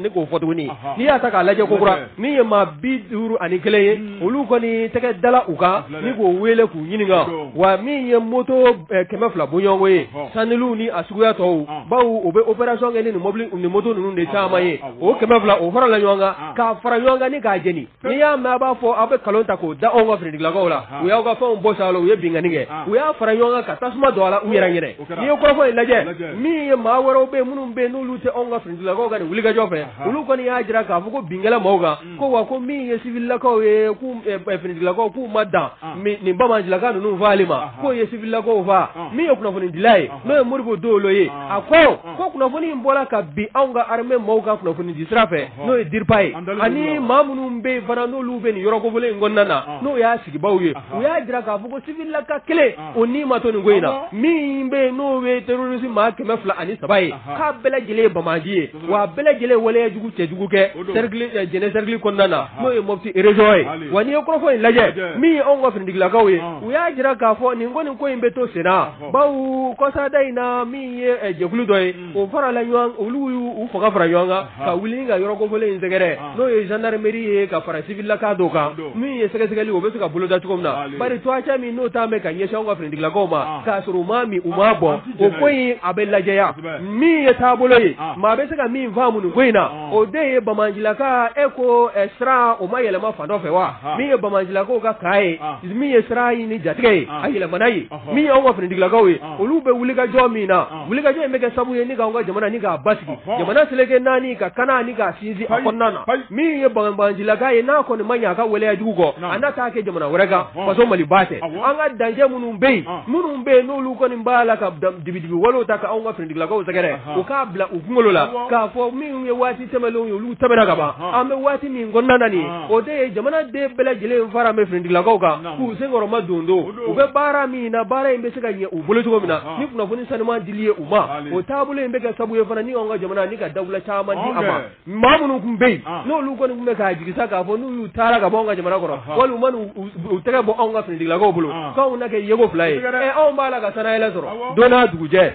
ne k'o fɔ tuguni n'i y'a ta k'a lajɛ kokura min ye maa bi duuru ani kelen ye olu kɔni tɛgɛ dala u kan ni k'o wele k'u ɲininka wa min ye moto kɛmɛ fila bɔɲɔgɔnko ye saniliw ni a suguya tɔw bawo u bɛ opération kɛ ni mɔbili ni moto ninnu de caman ye o kɛmɛ fila o farala ɲɔgɔn kan k'a fara ɲɔgɔn kan ni k'a jeni N'i y'a mɛn a b'a fɔ aw bɛ nkalon ta k'o da anw ka finitigilakaw la, u y'aw ka fɛnw bɔsi a la, u ye binkanni kɛ, u y'a fara ɲɔgɔn kan ka tasuma don a la u yɛrɛ ɲɛna, n'i ye kɔrɔfɔ in lajɛ min ye maa wɛrɛw bɛ yen minnu bɛ yen n'olu tɛ anw ka finitigilakaw ka nin wulikajɔ fɛ, olu kɔni y'a jira k'a fɔ ko bin kɛra maaw kan, ko wa ko min ye civililakaw ye k'u finitigilakaw k'u ma dan nin banbaancilaka ninnu fagali ma, k'u ye civililakaw faga, min ye kunnafonidila ye n'o ye Modibo Dolo ye, a ko ko kunnafoni in bɔra kabi anw ka armée maaw ka kunnafoni di sira fɛ n'o ye DIRPA ye ani maa minnu bɛ yen fana n'olu bɛ nin yɔrɔ kofɔlen in kɔnɔna na n'o y'a sigibaaw ye u y'a jira k'a fɔ ko civililaka kelen o ni ma to nin ko in na min bɛ yen n'o ye terroriste maa kɛmɛ fila ani saba ye k'a bɛɛ lajɛlen ye banbaanci ye wa a bɛɛ lajɛlen ye waleyajugu cɛjugu kɛ cercle Jɛnɛ cercle kɔnɔna na n'o ye Mopti région ye wa n'i ye kɔrɔfɔ in lajɛ min ye anw ka finitigilakaw ye u y'a jira k'a fɔ nin ko nin ko in bɛ to senna bawo kɔsada in na min ye jɛkulu dɔ ye o fara la olu y'u fanga fara ɲɔgɔn kan ka wuli ka yɔrɔ kofɔlen in sɛgɛrɛ n'o ye gendarmerie ye ka fara civililaka dɔw kan min ye sɛgɛsɛgɛli o bɛ se ka boloda cogo min na bari cogoya min n'o talen bɛ ka ɲɛsin anw ka finitigilakaw ma k'a sɔrɔ u m'a min u m'a bɔn o ko in a bɛ lajɛya min ye taabolo ye maa bɛ se ka min faamu nin ko in na o de ye banbaancilaka ko siran o ma yɛlɛma fan dɔ fɛ wa min ye banbaancilakaw ka camp ye min ye siranɲɛ ni jatigɛ ye a yɛlɛmana yen min y'an ka finitigilakaw ye olu bɛ wulikajɔ min na wulikajɔ in bɛ kɛ sababu ye ni k'an ka jamana ni k'a basigi jamana seleke naani ka kana ni k'a sinsin a kɔnɔna na min ye banbaancilaka ye n'a kɔni ma ɲɛ a ka waleya jugu kɔ a na t'a kɛ jamana wɛrɛ kan faso Maliba tɛ an ka dancɛ minnu bɛ yen minnu bɛ yen n'olu kɔni b'a la ka dibidibi walew ta k'anw ka finitigilakaw sɛgɛrɛ o k'a bila u kunkolo la k'a fɔ minnu ye waati tɛmɛnlenw ye olu tɛmɛna ka ban an bɛ waati min kɔnɔna na nin ye o de ye jamanaden bɛɛ lajɛlen faralen bɛ finitigilakaw kan k'u senkɔrɔma don don u bɛ baara min na baara in bɛ se ka ɲɛ u bolo cogo min na ni kunnafoni sanuman dili ye u ma o taabolo in bɛ kɛ sabu ye fana ni an ka jamana ni ka dawula caman di a ma maa minnu tun bɛ yen n'olu kɔni tun bɛ k'a jigisa k'a fɔ n'u y'u taara ka bɔ anw ka jamana kɔrɔ walima u tɛgɛ bɔ anw ka finitigilakaw bolo k'anw na kɛ yeko fila ye anw b'a la ka sannayɛlɛn sɔrɔ don o dugujɛ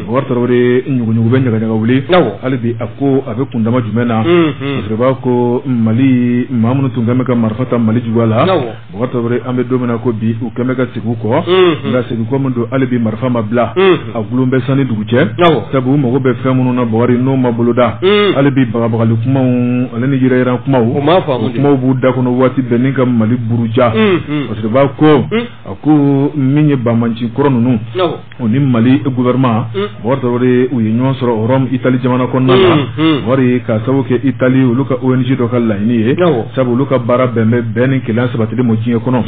Bɔkari Tarawele ɲuguɲugu bɛ ɲagaɲaga wuli, awɔ, hali bi a ko a bɛ kundama jumɛn na, unhun, parce que u b'a fɔ ko Mali maa minnu tun kɛlen bɛ ka marifa ta Mali juguya la, awɔ, Bɔkari Tarawele an bɛ don min na i ko bi u kɛlen bɛ ka segin u kɔ, unhun, nka segin kɔ min don hali bi marifa ma bila, unhun, a gulon bɛ san ni dugu cɛ, awɔ, sabu u mago bɛ fɛn minnu na Bɔkari n'o ma boloda, un, hali bi bagabagali kumaw ale ni yɛrɛyira kumaw b'u da kɔnɔ waati bɛɛ ni ka Mali buruja, unhun, parce que u b'a fɔ ko, un, a ko min ye banbaancinkɔrɔ ninnu, awɔ u ni mali gouvernement bɔgɔri tarawele u ye ɲɔgɔn sɔrɔ rome itali jamana kɔnɔna la mm, mm. bɔgɔri k'a sabu kɛ itali olu ka ong dɔ ka laɲini ye sabu olu ka baara bɛn bɛ bɛn ni kelenya sabatili ma diɲɛ kɔnɔ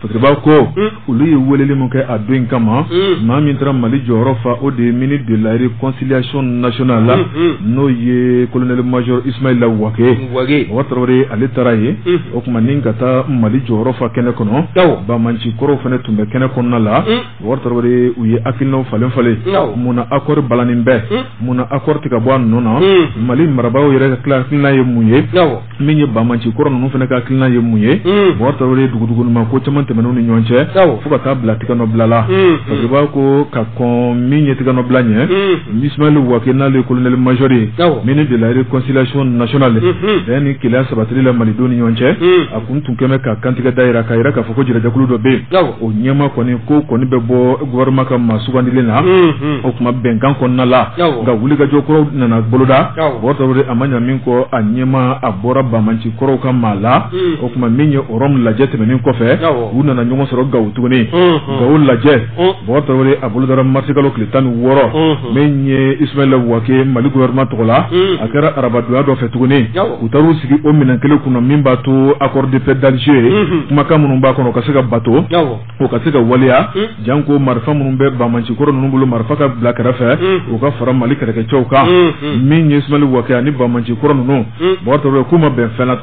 parce que b'a ko olu ye weleli min kɛ a don in kama maa min taara mali jɔyɔrɔ fa o de ye ministre de la reconciliation nationale la n'o ye colonel major ismaila wage bɔgɔri tarawele ale taara yen o tuma ni ka taa mali jɔyɔrɔ fa kɛnɛ kɔnɔ banbaanci kɔrɔw fana tun bɛ kɛnɛ kɔnɔna la Bɔgɔri Tarawele u ye hakilinaw falen falen, awɔ, mun na accord balannen bɛ, un, mun na accord tɛ ka bɔ a nɔ na, un, Mali marabaaw yɛrɛ ka hakilina ye mun ye, awɔ, min ye banbaanci kɔrɔ ninnu fana ka hakilina ye mun ye, un, Bɔgɔri Tarawele dugudugunima ko caman tɛmɛn'u ni ɲɔgɔn cɛ, awɔ, fo ka taa bila tigɛnɔbila la, unhun, parce que u b'a ko ka kɔn min ye tigɛnɔbila ɲɛ, unhun, Ismayɛli Wage n'ale ye colonel major ye, awɔ, ministre de la reconciliation nationale, unhun, bɛn ni kelenya sabatili la Malidenw ni ɲɔgɔn cɛ, un. kun tun kɛmɛ ka kantigɛ da jira k'a jira k'a fɔ ko jɛrɛjɛkulu dɔ bɛ yen o ɲɛmaa kɔni ko kɔni bɛ bɔ gouvernement ka maa sugandilen na o tuma bɛnkan kɔnɔna la nka wulikajɔ kɔrɔw nana boloda bɔgɔri a ma ɲa min kɔ a ɲɛmaa bɔra banbaanci kɔrɔw ka maa la o tuma min ye rome lajɛ tɛmɛnen kɔfɛ u nana ɲɔgɔn sɔrɔ gawo tuguni gawo lajɛ Bɔgɔri tarawele a bolodara mars kalo tile tan ni wɔɔrɔ min ye ismaila wage mali gouvernement tɔgɔ la a kɛra arabadonya dɔ fɛ tuguni u taara'u sigi o minɛn kelen kunna min b'a to accord de paix d'alger kumakan minnu b'a kɔnɔ ka se ka bato o ka se ka waleya janko marifa minnu bɛ banbaanci kɔrɔ ninnu bolo marifa ka bila kɛrɛfɛ u ka fara mali kɛlɛkɛcɛw kan min ye ismaila wage ani banbaanci kɔrɔ ninnu bɔgɔri k'u ma bɛn fɛn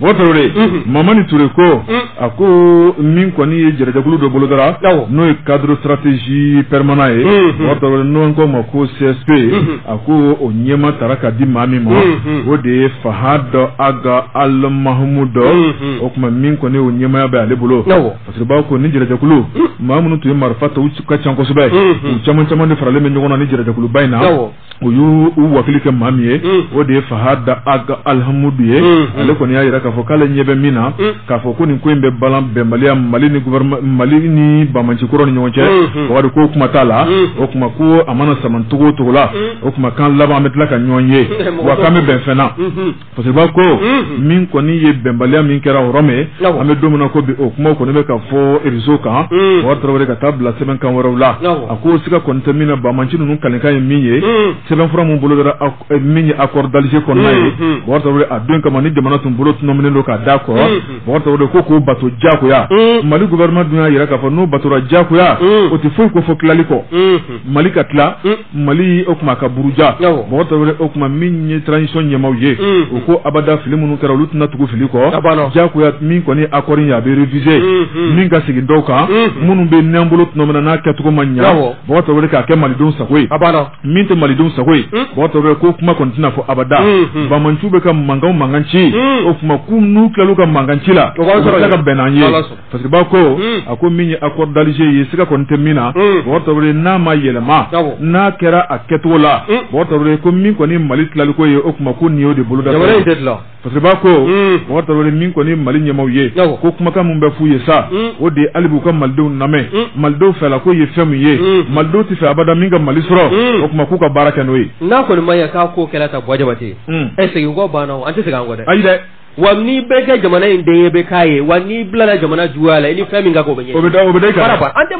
Bɔgɔri tarawele mamani ture ko a ko min kɔni ye jɛrɛjɛkulu dɔ bolodara n'o ye cadre stratégie permanent ye n'an k'a ma ko csp a ko o ɲɛmaa tara ka di maa min ma o de ye fahad ag almahmoud o kuma min kɔni o ɲɛmaaya bɛ ale bolo parce que b'a ko ni jɛrɛjɛkulu maa minnu tun ye marifa ta u ka ca kosɛbɛ u caman caman de faralen bɛ ɲɔgɔn na ni jɛrɛjɛkuluba in na u y'u u wakili kɛ maa min ye o de ye fahad ag almahmoud ye ale kɔni y'a jira k'a fɔ k'ale ɲɛ bɛ min na k'a fɔ ko nin ko in bɛ balan bɛnbaliya mali ni mali ni banbaanci kɔrɔ ni ɲɔgɔn cɛ bɔgɔri ko kuma t'a la o kuma ko a mana saman cogo o cogo la o kuma k'an laban an bɛ tila ka ɲɔgɔn ye wa k'an bɛ bɛn fɛn na Parce que b'a ko min kɔni ye bɛnbaliya min kɛra rome an bɛ don min na ko bi o kumaw kɔni bɛ ka fɔ réseau kan bɔgɔri tarawele ka taa bila sɛbɛn kan wɛrɛw la a ko siga kɔni tɛ min na banbaanci ninnu kalikan ye min ye sɛbɛnfura min bolodara min ye accord d'alger kɔnɔna ye bɔgɔri tarawele a don kama ni jamana tun bolo tminɛ don k'a da kɔrɔ ko k'o bato jagoya mali gouvernement dun y'a jira k'a fɔ n'o batora jagoya o tɛ foyi kofɔ tilali kɔ mali ka tila Mali o kuma k'a buruja Bɔkari Tarawele o kuma min ye transition ɲɛmaw ye u ko abada fili minnu kɛra olu tɛna tugu fili kɔ jagoya min kɔni accord in a bɛ réviser min ka segin dɔw kan minnu bɛ n'an bolo tuma min na n'a kɛcogo ma ɲa Bɔkari Tarawele k'a kɛ malidenw sago ye min tɛ malidenw sago ye Bɔkari Tarawele ko kuma kɔni tɛna fɔ abada banbaanciw bɛ ka mankan mankan ci o kuma n'u tilala u ka mankan ci la u bɛn'an ye Fasiribaa ko Unhun a ko min ye accord d'Alger ye siga kɔni tɛ min na Unhun Bɔkari Tarawele n'a ma yɛlɛma Awɔ n'a kɛra a kɛcogo la Unhun Bɔkari Tarawele ko min kɔni ye Mali tilaliko ye o kuma ko nin y'o de boloda fɛn ye jamana in tɛ tila fasiribaa ko Unhun Bɔkari Tarawele min kɔni ye Mali ɲɛmaaw ye Awɔ ko kumakan min bɛ f'u ye sa Unhun o de ye hali bi u ka Malidenw lamɛn Unhun Malidenw fɛlako ye fɛn min ye Unhun Malidenw tɛ fɛ abada min ka Mali sɔrɔ Unhun o kuma k'u ka baara kɛ n'o ye n'a kɔni ma ɲɛ k'a ko kɛra tan Buwa Jabate Unhun segin kɔ banna wa an tɛ segin an kɔ dɛ ayi dɛ wa n'i bɛ kɛ jamana in den ye i bɛ k'a ye wa n'i bilala jamana juguya la i ni fɛn min ka kan o bɛ da i kan an tɛ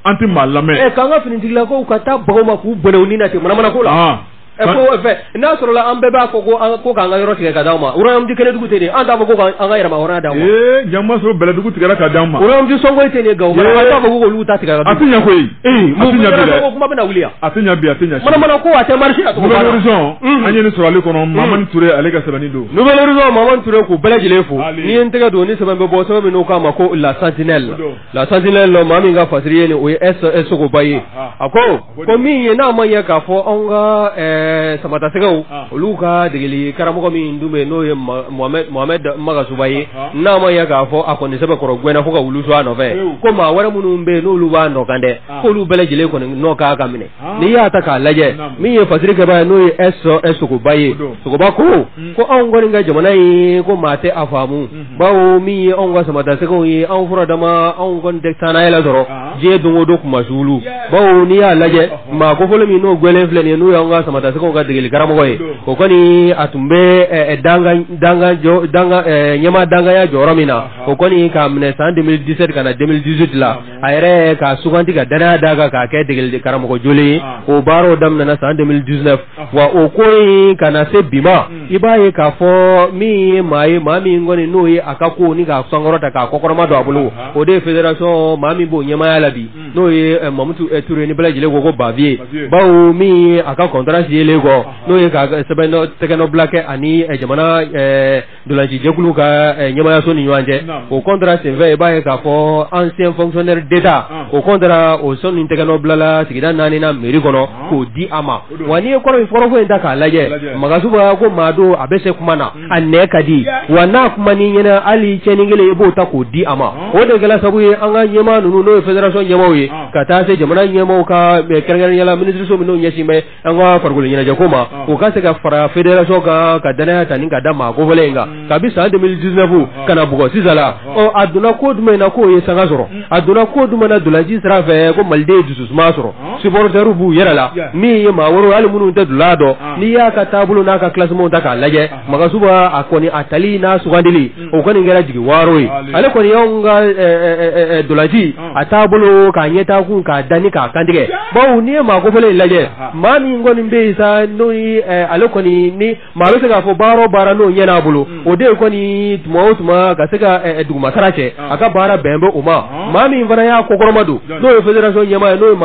an tɛ maa lamɛn eh, k'an ka finitigila ko ka taa baga u ma k'u bɔnɛ u ni na ten manamana ko la ah. eh, fɛ n'a sɔrɔla an bɛɛ b'a fɔ ko an ko k'an ka yɔrɔ tigɛ ka d'anw ma royaume Kɛnɛdugu tɛ nin an t'a fɔ ko an ka yɛrɛmahɔrɔnya d'anw ma jama sɔrɔ bɛlɛdugu tigɛ ka d'anw ma royaume Sɔngɔyi tɛ nin Gawo an t'a fɔ k'olu ta tigɛ a tɛ ɲɛ koyi kuma bɛna wuli A tɛ ɲɛ bi a tɛ ɲɛ sini. Manamana ko a tɛ marché la tugun. Nouvel Horizon Unhun. an ye nin sɔrɔ ale kɔnɔ Mamani Ture ale ka sɛbɛnni don. Nouvel Horizon Mamani Ture k'u bɛɛ lajɛlen fo. Hali. N'i ye n tɛgɛ don ni sɛbɛn bɛ bɔ sɛbɛn min n'u k'a ma ko la sentinelle O don. la sentinelle maa min ka fasiri ye nin o ye S S Sogoba ye. Aha. A ko ko ko min ye n'a ma ɲɛ k'a fɔ anw ka ɛɛ samatasɛgɛw Ah. olu ka degeli karamɔgɔ min dun bɛ yen n'o ye Ma- Mohamed Mohamed Magasuba ye Aha. n'a ma ɲɛ k'a fɔ a kɔni sɛbɛkɔrɔ gɛnna fo ka wulu su a nɔfɛ Ewu. ko maa wɛrɛ minnu bɛ yen n'olu b'a nɔ kan dɛ k'olu bɛɛ lajɛlen kɔni n'o k'a ka minɛ n'i y'a ta k'a lajɛ min ye fasirikɛba ye n'o ye S Sogoba ye Sogoba ko hmm. ko anw kɔni ka jamana in ko maa tɛ a faamu hmm. bawo min ye anw ka samatasɛgɛw ye anw fura dama anw kɔni tɛ taa yɛlɛ sɔrɔ diɲɛ don o don kunmasuuli bawo n'i y'a lajɛ maa kofɔlen min n'o gɛnnen filɛ nin ye n'o y'an ka samatasɛgɛw ka degeli karamɔgɔ ye o kɔni a tun bɛ ɲɛmaa dankanya jɔyɔrɔ min na o kɔni k'a minɛ san 2017 ka na 2018 la a yɛrɛ ka suganti ka dannaya d'a kan k'a kɛ degeli karamɔgɔ jɔlen ye ah. o baaraw daminɛna san 2019 ah. wa o ko in ka na se bi ma hmm. i b'a ye k'a fɔ min ye maa ye maa min kɔni n'o ye a ka ko ni k'a sankɔrɔta k'a kɔkɔrɔmadon a bolo ah, o de ye fédération maa min b'o ɲɛmaaya la bi hmm. n'o ye eh, Mamutu eh, Ture ni bɛɛ lajɛlen ko ko Baviye bawo min ye a ka contrat signé kɔ n'o ye ka sɛbɛn tɛgɛnɔbila kɛ ani eh, jamana Dolanci jɛkulu ka ɲɛmaayaso ni ɲɔgɔn cɛ o contrat senfɛ i b'a ye k'a fɔ ancien fonctionnaire d'État o contrat o sɔn ni tɛgɛnɔ bilala sigida naani na mairie kɔnɔ k'o di a ma wa n'i ye kɔrɔfɔ in ta k'a lajɛ Magasuba ko maa don a bɛ se kuma na a nɛn ka di wa n'a kuman'i ɲɛna hali cɛnin kelen i b'o ta k'o di a ma o de kɛra sabu ye an ka ɲɛmaa ninnu n'o ye fédération ɲɛmaaw ye ka taa se jamana ɲɛmaaw ka kɛrɛnkɛrɛnnenya la minisiriso minnu ɲɛsin bɛ an ka farikolo ɲɛnajɛ ko ma ah. o ka se ka fara fédération kan ka danaya ta ni ka da maa kofɔlen in kan hmm. kabi san 2019 ah. ka na bugɔ sisan la ah. ɔ a donna ko jumɛn na k'o ye sanga sɔrɔ hmm. a donna ko jumɛn na dolanci sira fɛ ko Maliden ye dususuma sɔrɔ supporters b'u yɛrɛ la min ye maa wɛrɛw hali minnu tɛ dola dɔn n'i y'a ka taabolo n'a ka classementw ta k'a lajɛ Magasuba a kɔni a tali n'a sugandili o kɔni kɛra jigi waro ye ale kɔni y'anw ka dolanci a taabolo ka ɲɛtaa kun k'a da k'a kantigɛ bawo n'i ye maa kofɔlen in lajɛ maa min kɔni bɛ yen sa n'o ye ale kɔni ni maa bɛ se k'a fɔ baara o baara n'o ɲɛn'a bolo o de ye kɔni tuma o tuma ka se ka duguma sara cɛ a ka baara bɛn bɛ o ma maa min fana y'a kɔkɔrɔmadon n'o ye fédération ɲɛmaa ye n'o ye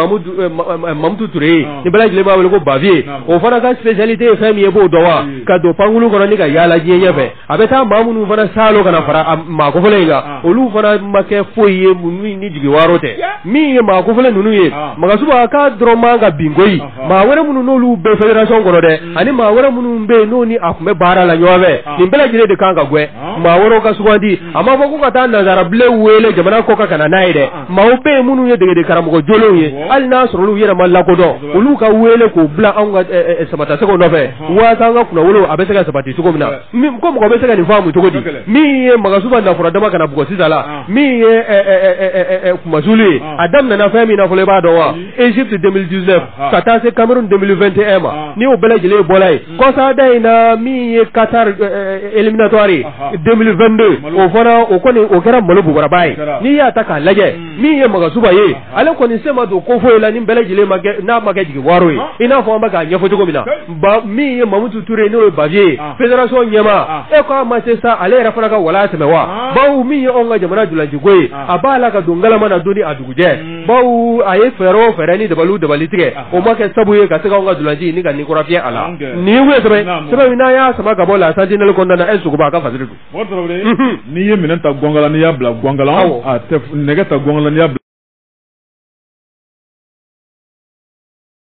Mamutu Ture ye ni bɛɛ lajɛlen b'a wele ko Bavieux o fana ka spécialité ye fɛn min ye i b'o dɔn wa ka don pankulu kɔnɔ ka yaala jiɲɛ fɛ a bɛ taa maa minnu fana sa ka na fara maa kofɔlen in kan olu fana ma kɛ foyi ye ni jigi waro tɛ min ye maa kofɔlen ninnu ye Magasuba ka dɔrɔn man ka bin koyi maa wɛrɛ minnu n'olu bɛ fédération kɔnɔ dɛ ani maa wɛrɛ minnu bɛ yen n'o ni a tun bɛ baara la ɲɔgɔn fɛ nin bɛɛ lajɛlen de kan ka gɛn maa wɛrɛ ka sugandi a ma fɔ ko ka taa nansarabilen wele jamana kɔkan ka na n'a ye dɛ maaw bɛ yen minnu ye degekaramɔgɔ jɔlenw ye hali n'a sɔrɔ olu yɛrɛ ma lakodɔn olu ka wele k'o bila anw ka samatasɛgɛw nɔfɛ waasa an ka kunnawolo a bɛ se ka sabati cogo min na ko mɔgɔ bɛ se ka nin faamu cogo di min ye Magasuba na furadama ka na bugɔ sisan la min ye kunmasuuli ye a daminɛna fɛn min na fɔlɔ i b'a dɔn wa Égypte 2019 ka taa se Cameroun 2021 ma ni o bɛɛ lajɛlen bɔra yen kɔsada in na min ye Qatar éliminatoire 2022 o fana o kɔni o kɛra malo bobaraba ye n'i y'a ta k'a lajɛ min ye Magasuba ye ale kɔni sen ma don ko foyi la ni bɛɛ lajɛlen n'a ma kɛ jigi waro ye i n'a fɔ an bɛ k'a ɲɛfɔ cogo min na ba min ye Mamutu Ture ye n'o ye Bavieux ye fédération ɲɛmaa e ko a ma se sa ale yɛrɛ fana ka walan sɛmɛ wa bawo min ye anw ka jamana dolanciko ye a b'a la ka don ngalama na don ni a dugujɛ bawo a ye fɛɛrɛ o fɛɛrɛ ni dabalu dabali tigɛ o ma kɛ sabu ye ka se k'an ka dolanci ni ka ni kura fiyɛ a la nin ye sɛbɛn n'an y'a sama ka bɔ La Sentinelle kɔnɔna e Sogoba a ka fa n'i ye minɛ ta gka n'i y'a bila gka nɛgɛ ta gka' bila